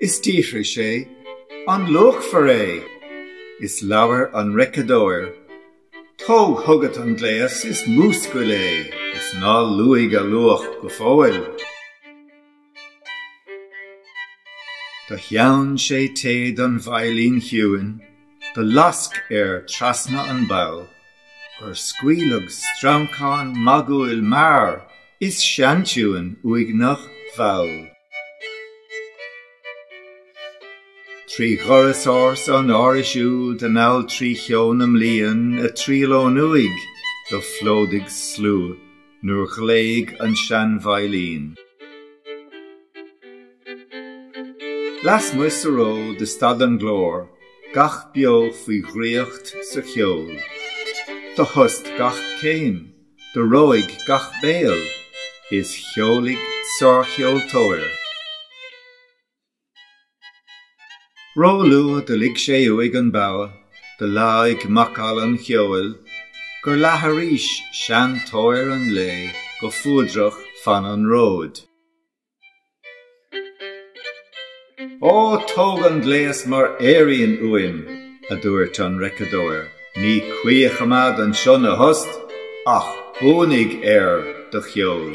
Is d'fhiafraigh sé, An luachmhar é? Is labhair an reiceadóir, Tóg chugat an gléas is múscail é, is ná luaigh a luach go fóill. Do theann sé téad an veidhlín chiúin. Do lasc air treasna an bogha gur scaoileadh streancán magúil mear is seantiúin uaigneach mhall. Trí dhoras ársa an árais úd anall trí cheo na mblian ag triall ón uaigh do phlódaigh sluagh nuair ghlaoigh an sean-veidhlín. Lasmuigh sa ród do stad an glór, gach beo faoi dhraíocht sa cheol. Do thost gach céim, do reoigh gach béal, is cheolaigh sárcheoltóir. Ró luath do lig sé uaidh an bogha, do leáigh macalla an cheoil, Gur leath arís seantóir an lae go fuadrach fan an róid. Ó, tóg an gléas mar fhéirín uaim, a dúirt an reiceadóir, Ní cuí a choimeád anseo 'na thost, ach buanaigh ar do cheol.